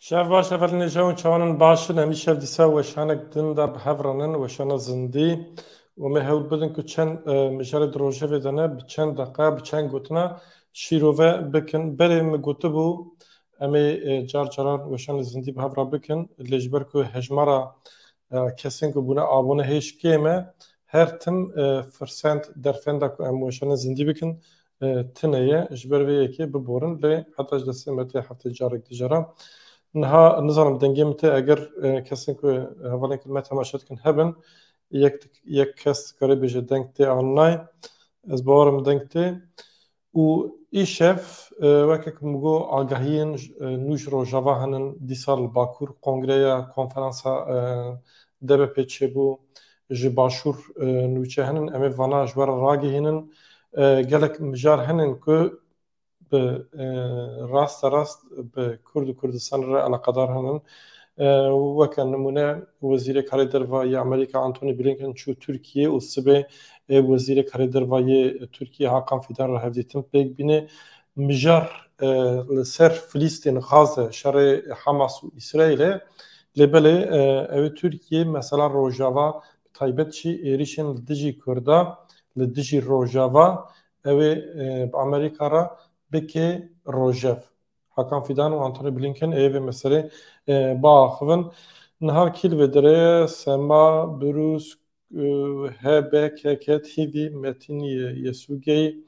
Şev baş evelînê jew û çawanan baş in hemî şev dîsa weşanek din de bi hev re nin weşana zindî û me hewl bidin ku çend mijarê di rojevê de ne bi çend deqa bi çend gotina şîrove bikin berê min gotibû Em ê car caran weşanê zindî bi hev re bikin lê ji ber ku hejmara kesên ku bûne abûne hêj kêm e her tim firsend derfenda ku em weşanê zindî bikin tune ye. Ji ber vê yekê biborin lê heta ji destê me tê heftê carek di jara. Niha nizanim dengê min tê eger kesên ku hevalên ku me temaşe dikin hebin yek yek kes dikare bêje deng tê an nayê. Ez bawer im deng tê. Û îşev weke ku min got agahiyên nû ji Rojava henin, dîsal li Bakur kongreya konferansa DBP'ê çêbû, ji Başûr nûçe henin, em ê vana ji we re ragihînin. Gelek mijar henin ku bi raste rast bi Kurd û Kurdistanê re eleqedar henin. Weke nimûne Wezîrê Karê Derve ya Amerîka Antony Blinken çû Tirkiyê û sibê Ev Wezîrê Karê Derva yê Tirkiyê Hakan Fîdan re hevdîtin pêk bîne. Mijar li ser Filîstîn, Gaze, şerê Hamas û Îsraîl e. Lê belê ew Tirkiyê mesela Rojava bi taybet jî êrîşên li dijî Kurda, li dijî Rojava ew ê bi Amerîka re bike rojev. Hakan Fîdan û Antony Blinken ê vê meselê biaxivin. Niha kî li vê derê ye? Sema, Brûs, HBKK TV, Metin Yesugey,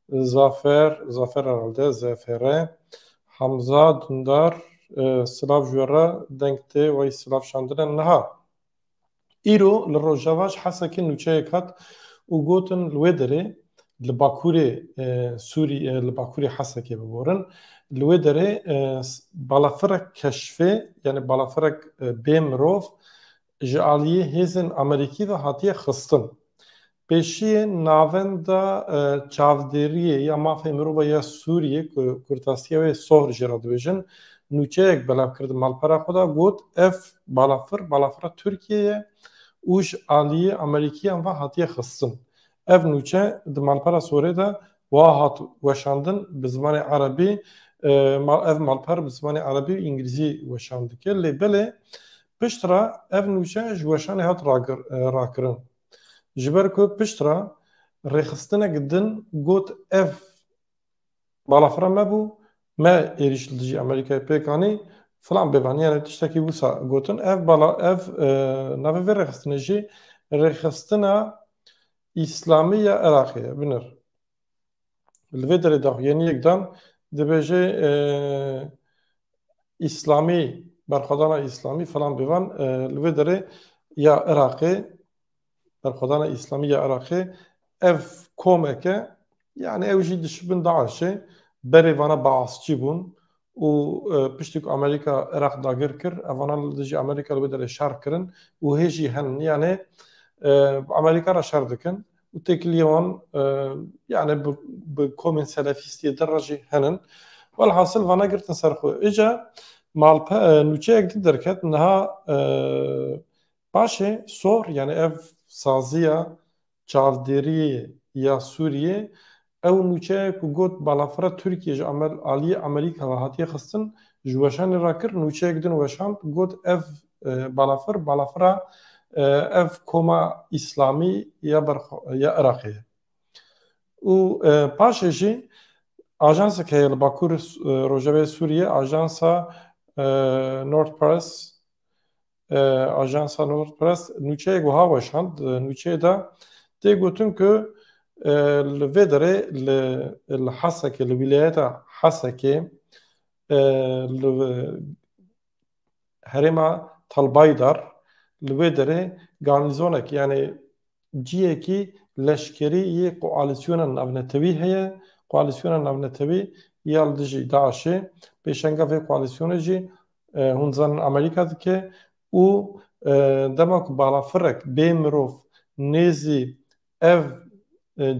Zafer, Zafer herhalde, Zefere, Hamza Dundar, Silav ji we re, deng tê wey silav şandine. Niha îro li Rojava ji Hesekê nûçeyek hat û gotin li wê derê li Bakurê Sûrî li Bakurê Hesekê biborin li wê derê balafirek keşfê yanî balafirek bê mirov ji aliyê hêzên Amerîkî ve hatiye xistin. Pêşiyê navenda çavdêriyê ya mafê mirova ya Sûriyê ku kurtasiya wê sohr jê re dibêjin, nûçeyek belav kir di malpera xwe de got ev balafir balafira Tirkiyê ye û ji aliyê Amerîkiyan ve hatiye xistin. Ev nûçe di malpera sorê de wiha hat weşandin bi zimanê erebî, ev malper bi zimanê erebî û îngilîzî weşan dike lê belê Pişt re ev nûçe ji weşanê hat rakirin. Ji ber ku pişt re rêxistinek din got ev balafira me bû, me êrîş li dijî Amerîkayê pêk anî filan bêvan yanî tiştekî wisa gotin ev bala ev navê vê rêxistinê jî rêxistina Îslamî ya Iraqê ye. Binir Li vê derê daxuyaniyek dan dibêje Îslamî berxwedana Îslamî filan bêvan li vê derê ya Iraqê berxwedana Îslamî ya Iraqê ev komeke yani ew jî dişibin DAIŞê berê vana baasçî bûn û piştî ku Amerîka Iraq dagir kir evanan li dijî Amerîka li wê derê şer kirin û hê jî hen yanê bi Amerîka re şer dikin û têkiliyê wan yanê bi komên selefîstiyê dir re jî henin. Welhasil vana girtin ser xwe. Îca malpe nûçeyek din derket niha paşê sor yanê ev saziya Çavdêriyê ya Sûriyê, ew nûçeye ku got balafira Tirkiyê ji aliyê Amerîka ve hatiye xistin, ji weşanê re kir, nûçeyek din weşand, got ev balafir, balafira ev koma Îslamî ya ber ya Iraqê ye. Û paşê jî ajansek heye li Bakur Rojavayê Sûriyê, ajansa Nord Press Ajansa Nord Press nûçeyek wiha weşand, di nûçeyê de tê gotin ku li vê derê li li Hesekê li wîlayeta Hesekê li herêma Telbaydar li wê derê garnîzonek yanî cihekî leşkerî yê koalîsyona navnetewî heye. Koalîsyona navnetewî ya li dijî DAIŞ'ê pêşenga vê koalîsyonê jî Hûn dizanin Amerîka dike û dema ku balafirek bê mirov nêzî ev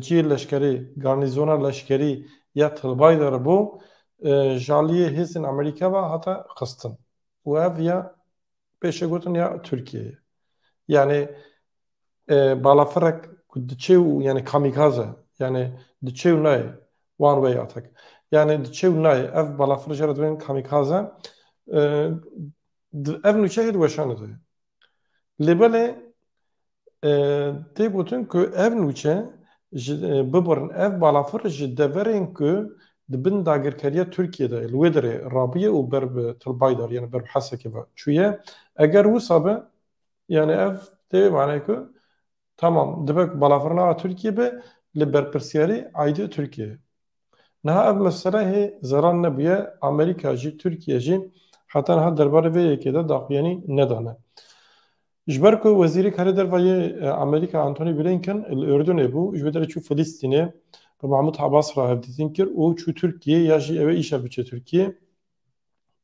cihê leşkerî, garnîzona leşkerî ya Tilbaî de re bû, ji aliyê hêzên Amerîka ve hate xistin û ev ya pêşegotin ya Tirkiyeyê ye. Yanî balafirek ku diçe û yani kamîkaz e yani diçe û nayê one way atak yani diçe û nayê ev balafir jê re dibin kamîkaz e ev nûçe jê diweşanê de lê belê tê gotin ku ev nûçe ji bibirin ev balafir ji deverên ku di bin dagirkeriya Tirkiyê de li wê derê rabûye û ber bi Til Baydar yani ber bi Hesekê ve çûye eger wisa be Yani ev tê manayê ku tamam dibe ku balafir nava Tirkiyê be li berpirsiyarî aîdê Tirkiyê. Niha ev mesele hê zeran nebûye Amerîka jî Tirkiye jî heta niha derbarê vê yekê de daxuyanî nedane. Ji ber ku wezîrê karê derva yê Amerîka Antony Blinken li Urdunê bû ji wê derê çû Filîstînê bi Mahmud Abbas re hevdîtin kir û çû Tirkiyê ya jî ew ê îşa biçe Tirkiyê.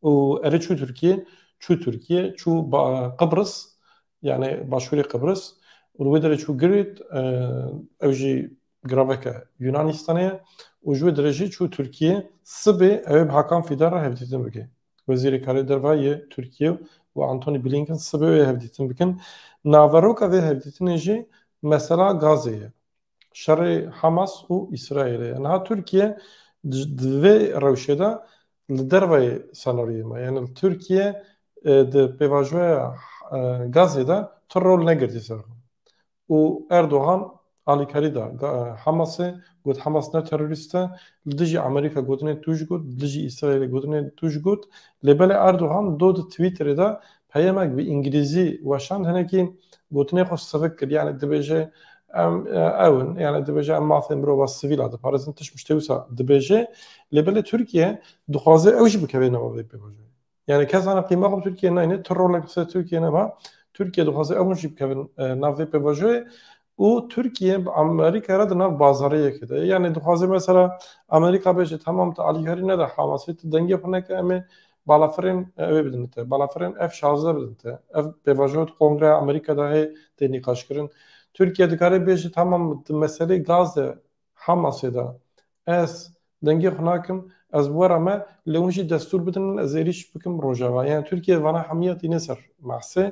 û erê çû Tirkiyê çû Tirkiyê çû Qibris yani başûrê Qibris û li wê derê çû Girit ew jî giraveke Yûnanistanê ye û ji wê derê jî çû Tirkiyê sibê ew ê bi Hakan Fîdan re hevdîtin bike. Wezîrê Karê Derve yê Tirkiyê û Antony Blinken sibê wê hevdîtin bikin. Naveroka vê hevdîtinê jî mesela gazê ye. şerê Hamas û Îsraîlê ye. Niha Tirkiye di vê rewşê de li derveyê senaryoyê ma. Yani li Tirkiye di pêvajoya Gazê de tu rol negirtî ser xwe. Û Erdogan alîkarî da Hamasê got Hamas ne terorîst e, li dijî Amerîka gotinê tu ji got, li dijî Îsraîlê gotinê tu ji got. Lê belê Erdogan do di Twitterê de Peyamek bi îngilîzî weşand hinekî gotinê xwe sivik kir yanî dibêje em ew in yanî dibêje em mafê mirova sivîl a diparêzin tişt miştê wisa dibêje lê belê Tirkiye dixwaze ew jî bikeve nava vê pêvajoyê. Yanî kes zana qîma xwe bi Tirkiye nayne tu rolek li ser Tirkiye neba Tirkiye dixwaze ew hûn jî bikevin nav vê pêvajoyê û Tirkiye bi Amerîkayê re di nav bazariyekê de ye. Yanî dixwaze mesela Amerîka bêje tamam tu alîkarî nede Hamasê, tu dengê xwe neke em ê balafirên wê bidin te, balafirên F şazdeh bidin te. Ev pêvajoya di Kongreya Amerîkayê de heye tê nîqaşkirin. Tirkiye dikare bêje tamam di meseleyê gaz de Hamasê de. Ez dengê xwe nakim, ez bi we re me, lê hûn jî destûr bidin min ez êrîş bikim Rojava. Yani Tirkiye vana hemiya tîne ser Mahsê.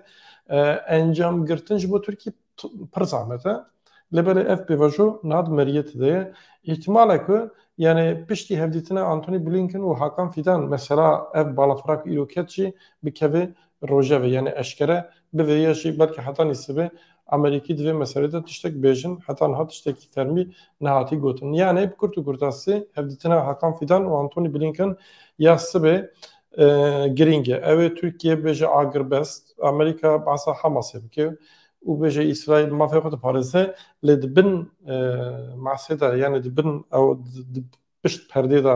Encam girtin ji bo Tirkî pir zahmet e. Lê belê ev pêvajo niha di meriyetê de ye. Îhtimal e ku yani piştî hevdîtina Antony Blinken û Hakan Fidan mesela ev balafira ku îro ket jî bikeve Rojevê yanê eşkere bi vê yê jî belkî heta nîsibê Amerîkî di vê meselê de tiştek bêjin heta niha tiştekî fermî nehatî gotin. Yanê bi kurt û kurtasî hevdîtina Hakan Fîdan û Antony Blinken ya sibê girîng e. Ew ê Tirkiye bêje agirbest, Amerîka behsa Hamasê bike û bêje Îsraîl mafê xwe diparêze lê di bin masê de yanê di bin ew di pişt perdê de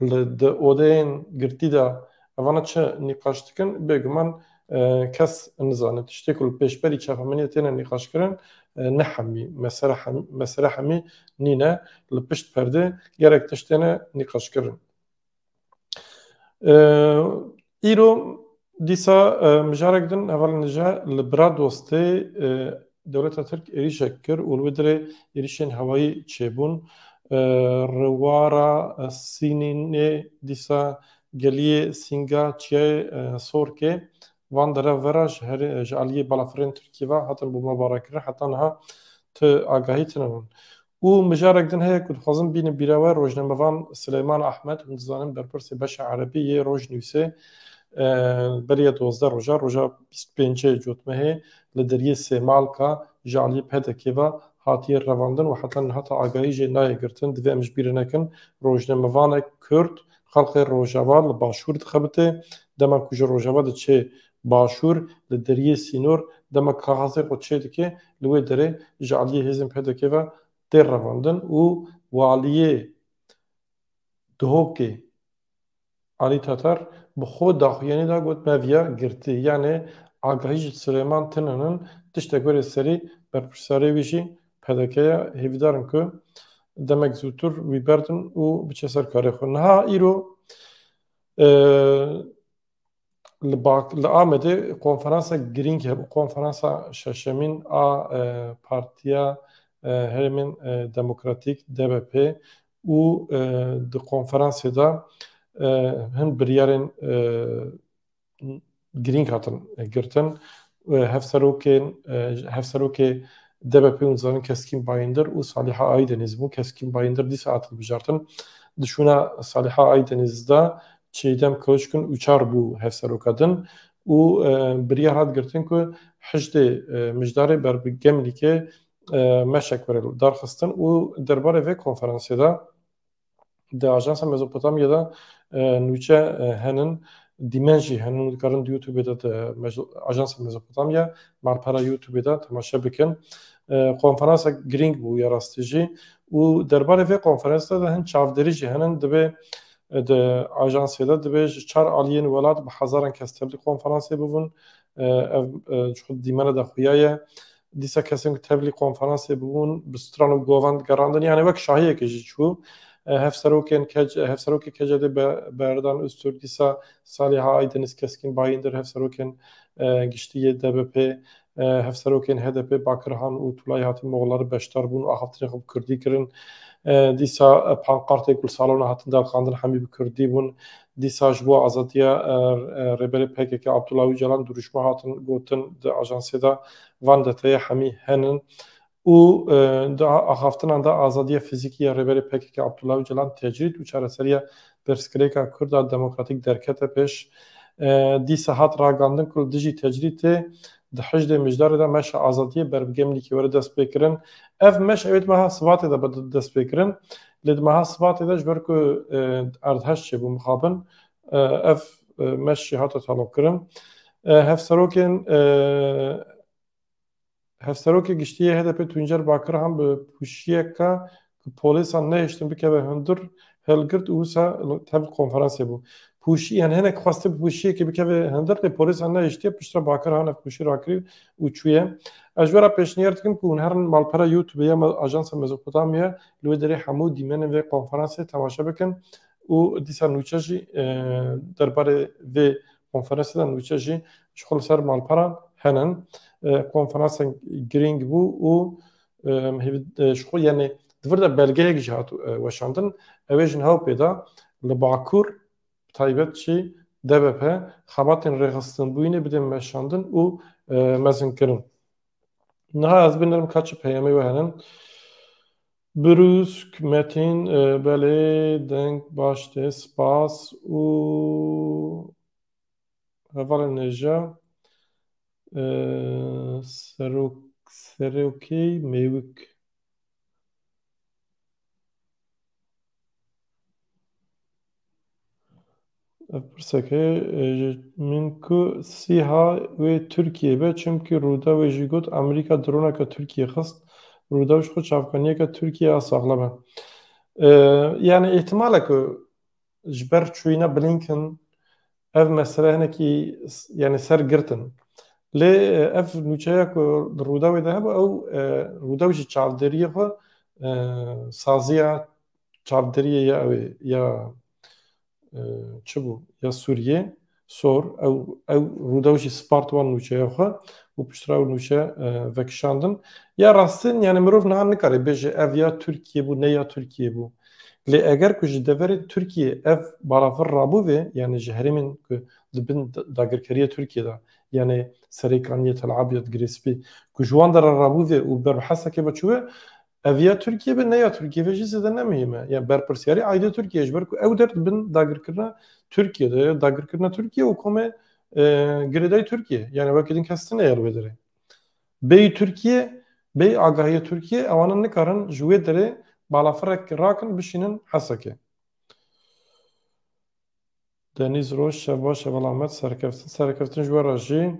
Li di odeyên girtî de evana çi nîqaş dikin bêguman kes nizane. Tiştê ku li pêşberî çapemeniyê têne nîqaşkirin ne hemî mesele hemî nîne. Li pişt perdê gelek tişt têne nîqaşkirin. Îro dîsa mijarek din hevalên dije li bira dostê dewleta Tirk êrîşek kir û li wê dirê êrîşên hewayî çêbûn. Rewara Sînînê dîsa geliyê Sînga Çiyayê Sorkê van derev ve re ji herê ji aliyê balafirên Tirkiyê ve hatin bombebarankirin heta niha tu agahî tune hûn. Û mijarek din heye ku dixwazin bînin bîra we, rojnamevan Sileyman Ahmed, hûn dizanin berpirsê beşa erebî yê Rojnewsê beriya duwazdeh rojan, roja bîst û pênc cotmehê li deriyê Sêmalka ji aliyê PDK'ê ve hatiye revandin û heta niha ta agahî jê nayê girtin. Divê em ji bîr nekin rojnamevanek kurd xelkê Rojava li Başûr dixebite. Dema ku ji Rojava diçê Başûr li deriyê sînor dema kaxasê xwe çêdike li wê derê ji aliyê hêzên PDK'ê ve tê revandin û waliyê Duhokê Alî Tatar bi xwe daxuyanî da got me viya girtî yanê agahî ji Silêman tinin in tiştek were serî berpirsarê wî jî PDK ye hêvîdar in ku demek zûtir wî berdin û biçe ser karê xwe. Niha îro li bak li Amedê konferansa girîng hebû konferansa şeşemîn a Partiya Herêmên Demokratîk DBP û di konferansê de hin biryarên girîng hatin girtin Hevserokên Hevserokê DBP û Zanin Keskîn Bayindir û Saliha Aydeniz bû. Keskîn Bayindir dîsa hat hilbijartin. Di şûna Saliha Aydeniz de Çeydem Kiliçgun Uçar bû hevseroka din û biryar hat girtin ku Hicdê Mijdarê ber bi Gemlîkê meşek were darxistin û derbarê vê konferansê de Di Ajansa Mezopotamya de nûçe henin, dîmen jî henin. Dikarin di YouTubeê de di Ajansa Mezopotamya malpera YouTubeê de temaşe bikin. Konferansek girîng bû ya rastî jî û derbarê vê konferansê de hin çavdêrî jî henin. Divê di ajansê de divê ji çar aliyên welat bi hezaran kes tevlî konferansê bibin. Ev ji xwe dîmene de xuya ye. Dîsa kesên ku tevlî konferansê bûbûn bi stran û govan digerandin yanî wek şahiyekê jî çû. Hevserokên kec Hevserokê KCD'ê Berdan Ozturk dîsa salê ha Aydeniz Keskin Bayindir Hevserokên Giştî yê DBP'ê Hevserokên HDP'ê Bakirhan û Tulay hatin Moxlari beşdar bûn û axaftinên xwe bi Kurdî kirin. Dîsa pankartên ku li salona hatin derxandin hemî bi Kurdî bûn. Dîsa ji bo azadiya Rêberê pkk Abdullah Ocalan dirûşme hatin gotin di ajansê de van deteyê hemî henin û di axaftinan de azadiya fizîkî ya Rêberê pkk Abdullah Ocalan tecrîd û çareseriya pirsgirêka Kurda demokratîk derkete pêş. Dîsa hat ragandin ku li dijî tecrîtê di hejdê Mijdarê de meşa azadiyê ber bi gemlîkê were destpêkirin. Ev meş ewê di meha Sibatê de be destpêkirin. Lê di meha Sibatê de ji ber ku erdhej çêbû mixabin ev meş jî hate taloqkirin. Hevserokên Hevserokê Giştî yê HDP'ê Tuncer Bakirhan bi pûşiyeke ku polêsan nehiştin bikeve hundir hilgirt û wisa tev konferansê bû. Pûşî yan hinek xwestiye bi pûşiyekê bikeve hundir lê polêsan nehiştiye piştre Bakirhan ev pûşî rakirî û çûye. Ez ji we re pêşniyar dikim ku hûn herin malpera Youtubê ya Ajansa Mezopotamya li wê derê hemû dîmenên vê konferansê temaşe bikin û dîsa nûçe jî derbarê vê konferansê de nûçe jî ji xwe li ser malperan henin. Konferansên girîng bû û ji xwe yanê di vir de belgeyek jî hat weşandin. Ew ê ji nav pê de li Bakur bi taybet jî DBP xebatên rêxistinbûyînê bidên meşandin û mezinkirin. Niha ez binirim ka çi peyamê we herin. Brûsk, Metin, e, belê, deng, baş tê, spas û hevalê nêja e, serok, serokê mêwik. Ev pirsek e ji min ku sîha wê Tirkiyeyê be çimkî Rûdaw wê jî got Amerîka droneke Tirkiyeyê xist. Rûdaw ji xwe çavkaniyeke Tirkiyeyê a saxlem e. Yanî îhtimal e ku ji ber çûyîna Blinken ev mesele hinekî yanî ser girtin. Lê ev nûçeya ku di Rûdawê de hebû ew Rûdaw ji çavdêriyê xwe saziya çavdêriyê ya ew ê ya çi bû ya Sûriyê sor ew ew rûdew jî spart wan nûçeya xwe û piştre ew nûçe vekişandin ya rastin yani mirov niha nikarê bêje ev ya Tirkiye bû ne ya Tirkiye bû lê eger ku ji deverê Tirkiye ev balafir rabû vê yani ji herêmên ku di bin dagirkeriya Tirkiye de yani serê kaniyê Tel Abyad Girê Spî ku ji wan de re rabû vê û ber bi hesekê ve çû vê Ev ya Tirkiyê be ne ya Tirkiyê ve jî zêde ne muhîm e. Yani berpirsyarî aîdê Tirkiyê ji ber ku ew der bin dagirkirina Tirkiyê de ya dagirkirina Tirkiyê û komê girêdayî Tirkiyê. Yani wekî din kes tune yer wê derê. Bêyî Tirkiyê, bêyî agahiyê Tirkiyê ewanan nikarin ji wê derê balafirek rakin bişînin Hesekê. Denîz Roj, şev baş e belav met serkeftin. Serkeftin ji we re jî.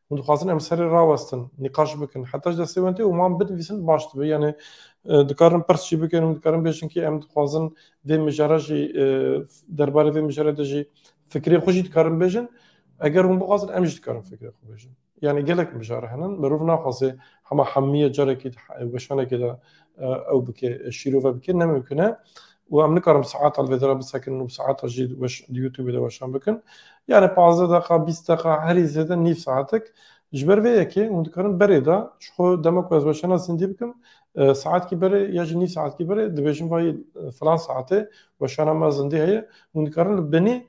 Hûn dixwazin em serê rawestin, nîqaş bikin. Heta ji destê wan tê û wan binivîsin baş dibe. Yanê dikarin pirs jî bikin û dikarin bêjin kî em dixwazin vê mijara jî derbarê vê mijara de jî fikirê xwe jî dikarin bêjin. Eger hûn bixwazin em jî dikarin fikirê xwe bêjin. Yanê gelek mijara hene mirov naxwaze hema hemîye carekî di weşanekê de ew bike şîrove bike ne mimkun e û em nikarin saeta li vê dera bisekin û saeta jî di youtubê de weşan bikin yani pazdeh deqa bîst deqa herî zêde nîv saetik ji ber vê yekê hûn dikarin berê de ji xwe dema ku ez weşana zindî bikim saetkî berê ya jî nîv saetkî berê dibêjim vayî filan saetê weşana me zindî heye hûn dikarin li binî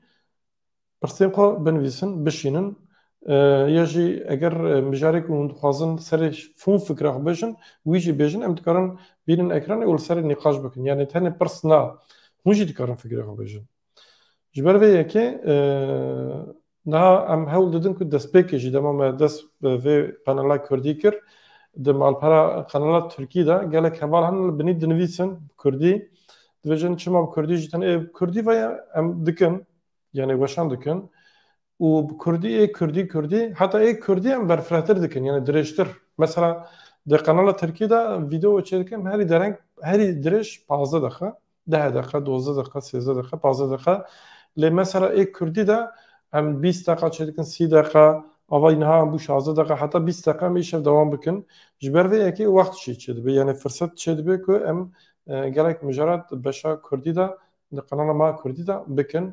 Pirsên xwe binivîsin, bişînin ya jî eger mijarê ku hûn dixwazin serê hûn fikra xwe bêjin wî jî bêjin em dikarin bînin ekranê û li serê nîqaş bikin yanê tenê pirs na hûn jî dikarin fikirê xwe bêjin. Ji ber vê yekê niha em hewl didin ku destpêkê jî dema me dest bi vê qenala kurdî kir di malpera qenala tirkî de gelek heval hene li binî dinivîsin bi kurdî dibêjin çima bi kurdî jî tenê ê bi kurdî ve ye em dikin yanê weşan dikin û bi kurdî ê kurdî kurdî heta ê kurdî em berfirehtir dikin yanê dirêjtir mesela di qenala tirkî de vîdeo çê dikin herî dereng herî dirêj pazdeh deqe deh deqe dozdeh deqe sêzdeh deqe pazdeh deqe lê mesela ê kurdî de em bîst deqa çê dikin sî deqa ava niha em bû şazdeh deqa heta bîst deqa em îşev dewam bikin ji ber vê yekê wext jî çê dibe yanê firset çê dibe ku em gelek mijarat beşa kurdî de Di kanala ma Kurdî de bikin.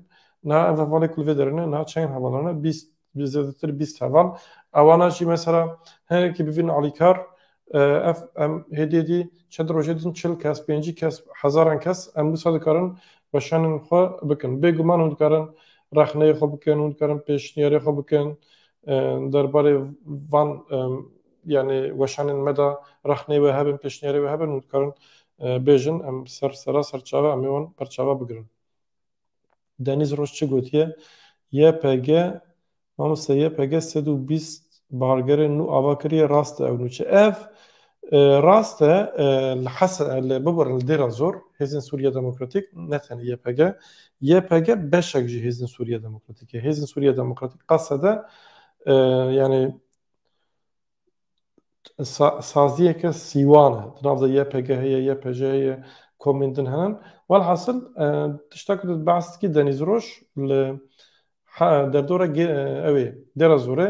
Niha ev hevalê ku li vê derê ne niha çend hevalan e bîst bi zêdetir bîst heval a wana jî mesela hinekî bivînin alîkar ev em hêdî hêdî çend rojê din çil kes pêncî kes hezaran kes em wisa dikarin weşanên xwe bikin. Bêguman hûn dikarin rexneyê xwe bikin, hûn dikarin pêşniyarê xwe bikin derbarê van yanî weşanên me de rexneyê we hebin, pêşniyarê we hebin û dikarin bêjin em ser sera ser çav e em ê wan berçava bigirin. Denîz Roj çi gotiye? YPG, Mamoste YPG sed û bîst bargerên nû ava kiriye rast e ew nû çi? Ev rast e li Hese li bibirin li Dêrazor Hêzên Sûriya Demokratîk ne tenê YPG, YPG beşek ji Hêzên Sûriya Demokratîk e. Hêzên Sûriya Demokratîk qasede yanî saziyeke sîwan e. Di nav de YPG'ê ye, YPJ'ê ye, komên din hene. Welhasil tişta ku tu behs dikî Denîz Roj li derdora ew ê Dêrazorê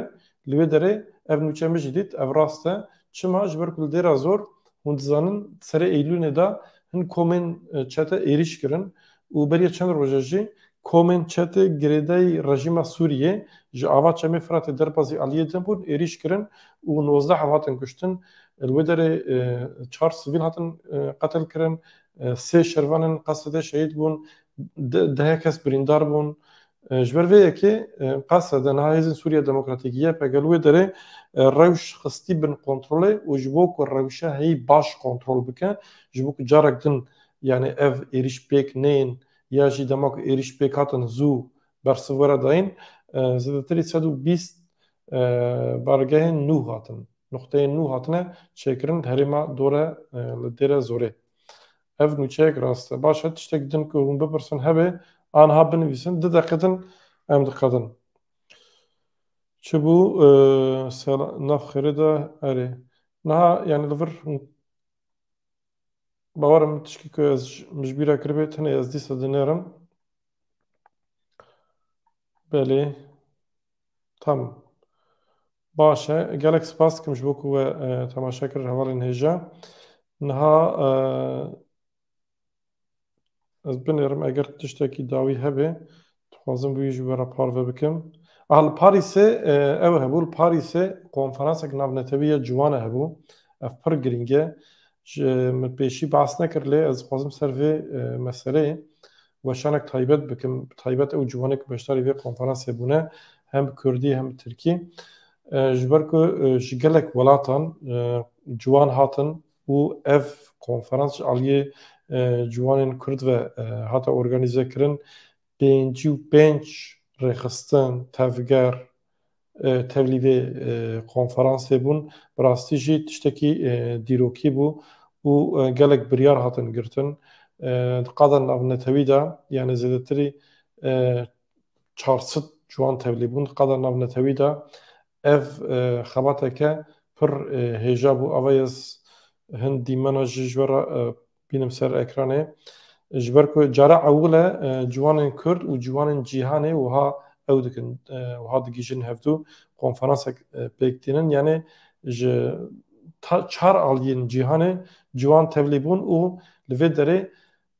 li wê derê ev nûçe min jî dît ev rast e. Çima? Ji ber ku li Dêrazor hûn dizanin serê Eylûnê de hin komên çete êrîş kirin û beriya çend roje jî Komên çetê girêdayî rejîma Sûriyê ji ava Çemê Firatê derbazî aliyê din bûn, êrîş kirin û nozdeh ev hatin kuştin. Li wê derê çar sivîl hatin qetilkirin, sê şervan ên Qasedê şehîd bûn, dehê kes birîndar bûn. Ji ber vê yekê Qasede niha hêzên Sûriya Demokratîk, YPG, li wê derê rewş xistî bin kontrolê û ji bo ku rewşa heyî baş kontrol bike, ji bo ku carek din yanî ev êrîş pêk neyên ya jî dema ku êrîş pêk hatin zû bersiv were dayîn, zêdetirî sed û bîst bargehên nû hatin, nuqteyên nû hatine çêkirin herêma Dore li Dêre Zorê. Ev nûçeyek rast e. Baş e tiştek din ku hûn bipirsin hebe anha binivîsin du deqe din em diqedin. Çibû nav xêrê de erê. Niha yanî li vir Bawerim tişkî ku ez min ji bîr re kiribê tenê ez dîsa dinêrim. Belê. Tamam. Baş e. Gelek spas dikim ji bo ku we temaşe kir hevalên hêja. Niha Ez binêrim eger tiştekî dawî hebe dixwazim wî ji we re parve bikim. Ah li Parîsê e, ew hebû li Parîsê konferansek navnetewî ya ciwan e hebû. Ev pir girîng e. Ji min pêşî behs nekir lê ez dixwazim ser vê e, meseleyê weşanek taybet bikim. Bi taybet ew ciwanê ku beşdarî vê konferansê bûne hem bi Kurdî hem bi Tirkî. E, Ji ber ku e, ji gelek welatan e, ciwan hatin û ev konferans ji aliyê ciwanên Kurd ve hate organîzekirin. Pêncî û pênc rêxistin, tevger, tevlî vê konferansê bûn. Bi rastî jî tiştekî dîrokî bû û gelek biryar hatin girtin. Di qada navnetewî de yanê zêdetirî çar sed ciwan tevlî bûn. Di qada navnetewî de Ev xebateke pir hêja bû ava ez hin dîmena jî ji we re bînim ser ekranê. Ji ber ku cara ewil e ciwanên Kurd û ciwanên cîhanê wiha ew dikin, wiha digihîjin hevdû konferansek pêk tînin yanê ji çar aliyên cîhanê ciwan tevlî bûn û li vê derê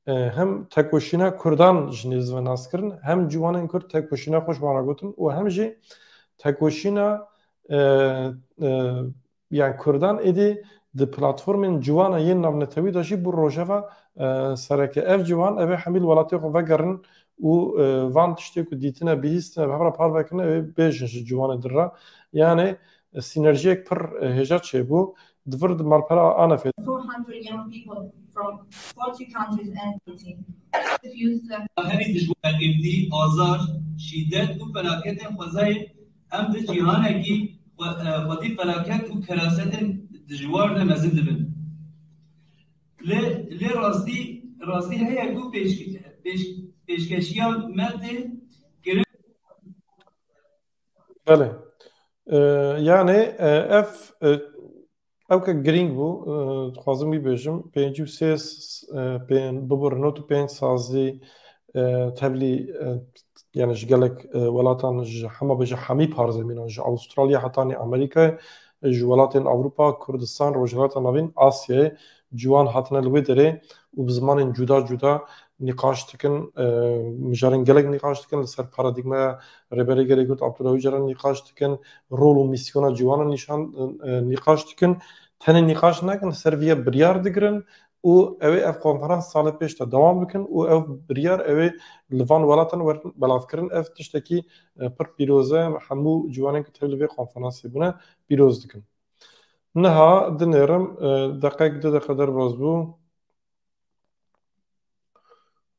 Hem tekoşîna Kurdan ji nêz ve nas kirin, hem ciwanên Kurd tekoşîna xwe ji wan re gotin û hem jî tekoşîna yan Kurdan êdî di platformên ciwan a yên navnetewî de jî bû rojeva sereke. Ev ciwan ev ê hemî li welatê xwe vegerin û van tiştê ku dîtine, bihîstine, bi hev re parve kirine ew ê bêjin ji ciwanê dir re. Yanê Sînerjiyek pir hêja çêbû di vir di malpera Anefê de. Herî dijwar êmdî, azar, şîdet û felaketên xwezayê em di cîhanekî xwedî felaket û kerasetên dijwar de mezin dibin. Lê lê rastî rastî heye ku pêşkeş pêşkeşiya me tê kirin. Belê. Yanê ev ew ke girîng bû dixwazim wî bêjim pêncî û sê bibir not û pênc sazî tevlî yani ji gelek welatan ji hema be ji hemî parzemînan ji Avustralya hetanî Amerîkayê ji welatên Ewropa, Kurdistan, Rojhilata Navîn, Asyayê Ciwan hatine li wê derê û bi zimanên cuda cuda nîqaş dikin. Mijarên gelek nîqaş dikin. Li ser paradîgmaya Rêberê Gelê Kurd Abdullah Ocalan nîqaş dikin. Rol û mîsyona ciwanan nîşan nîqaş dikin. Tenê nîqaş nakin li ser vê ya biryar digirin û ew ê ev konferans salê pêş de dewam bikin û ew biryar ew ê li van welatan werin belavkirin. Ev tiştekî pir pîroz e. Hemû ciwanên ku tevlî vê konferansê bûne pîroz dikim. Niha dinêrim deqek du deqe derbas bû.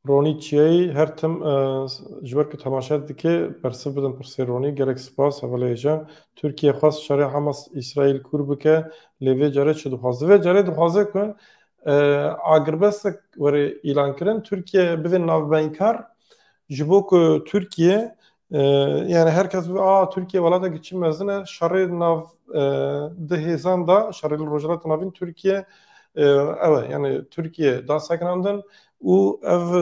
Ronî çiyayî her tim ji ber ku temaşe dike bersiv bidin pirsê Ronî gelek spas hevaleyê je. Tirkiye xwest şerê Hamas Îsraîl kûr bike lê vê care çi dixwaze? Vê care dixwaze ku agirbestek were îlankirin Tirkiye bibe navbeynkar ji bo ku Tirkiye Yani her kes a Tirkiye welatekî çi mezin e şerê nav di hêzan da şerê li Rojhilata Navîn Tirkiye ew e yani Tirkiye da sekinandin û ev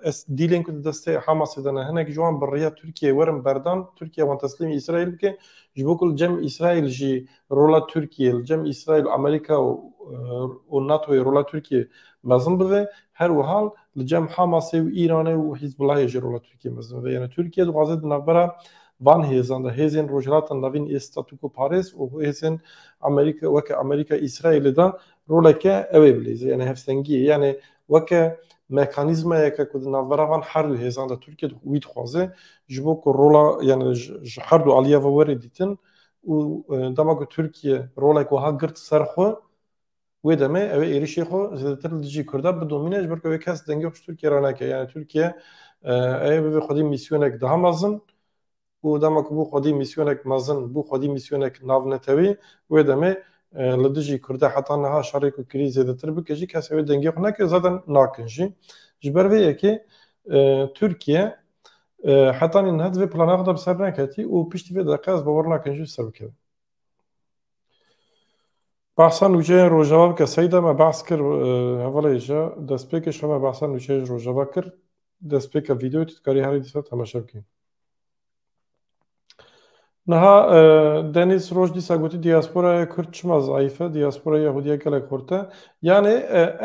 ez dîlên ku di destê Hamasê de ne hinek ji wan bi riya Tirkiye werin berdan Tirkiye wan teslîmî Îsraîl bike ji bo ku li cem Îsraîl jî rola Tirkiyê li cem Îsraîl, Amerîka û NATOyê rola Tirkiyê mezin bibe, her wiha li cem Hamasê û Îranê û Hîzbûlahê jî rola Tirkiyê mezin bibe. Yanî Tirkiye dixwaze di navbera van hêzan de hêzên Rojhilata Navîn ê statûkoparêz û hêzên Amerîka weke Amerîka Îsraîlê de roleke ew ê bilîze yanî hevsengiyê yanî weke mekanîzmayeke ku di navbera van her du hêzan de Tirkiye wî dixwaze ji bo ku rola yanî ji her du aliya ve were dîtin û dema ku Tirkiye rolek wiha girt ser xwe wê demê ew ê êrişê xwe zêdetir li dijî Kurdan bidomîne ji ber ku ew ê kes dengê xwe ji Tirkiye re neke. Yani Tirkiye ew ê bibe xwedî mîsyonek daha mezin û dema ku bû xwedî mîsyonek mezin, bû xwedî mîsyonek navnetewî wê demê li dijî Kurdan heta niha şerê ku kirî zêdetir bike jî kes ew ê dengê xwe neke zaten nakin jî. Ji ber vê yekê Tirkiye Heta niha divê plana xwe de bi ser neketî û piştî vê deqe ez bawer nakim jî bi ser bikevim. Behsa nûçeyên Rojava bike Seyda me behs kir hevalê ji destpêkê şo me behsa nûçeyê ji Rojava kir. Destpêka vîdeoyê tu dikarî herî dîsa temaşe bikî. Niha Denîz roj dîsa gotî diasporaya Kurd çima zayîf e, diasporaya Yahûdî ya gelek xurt e. Yanê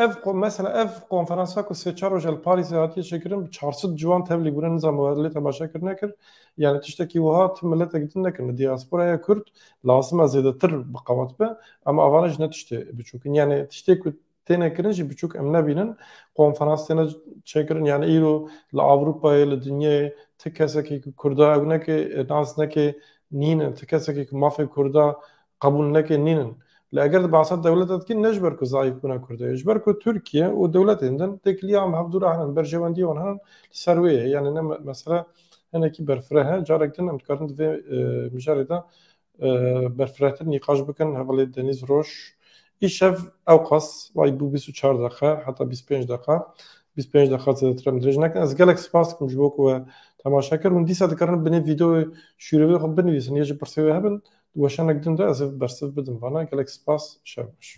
ev mesela ev konferansa ku sê çar roj li Parîsê hatiye çêkirin bi çar sed ciwan tevlî bûne nizam lê temaşa kir nekir. Yanê tiştekî wiha tu miletek din nekin li diasporaya Kurd lazim e zêdetir bi qewet be. Ema avane ji ne tiştê biçûk in. Yanê tiştê ku têne kirin jî biçûk em nebînin konferans têne çêkirin yani îro li Avrupayê li dinyayê ti kesekê ku Kurda ew nekê nas nekê nînin ti kesekê ku mafê Kurda qebûl nekê nînin li eger di behsa dewlete dikîn ne ji ber ku zayîf bûna Kurda ye ji ber ku Tirkiye û dewletên din têkiliya em hevdû re herin berjewendiyê wan herin li ser wê ye yani ne mesele hinekî berfireh e carek din em dikarin di vê mijarê de berfirehtir nîqaş bikin hevalê Denîz Roj. Îşev ewqas wayî bû bîst û çar deqe heta bîst û pênc deqa. Bîst û pênc deqa zêdetir em dirêj nekin. Ez gelek spas dikim ji bo ku we temaşe kir. Hûn dîsa dikarin binê vîdeoyê şûrêvê xwe binivîsin ya jî pirsê wê hebin di weşanek din de ez ê bersiv bidim vana. Gelek spas. Şev baş.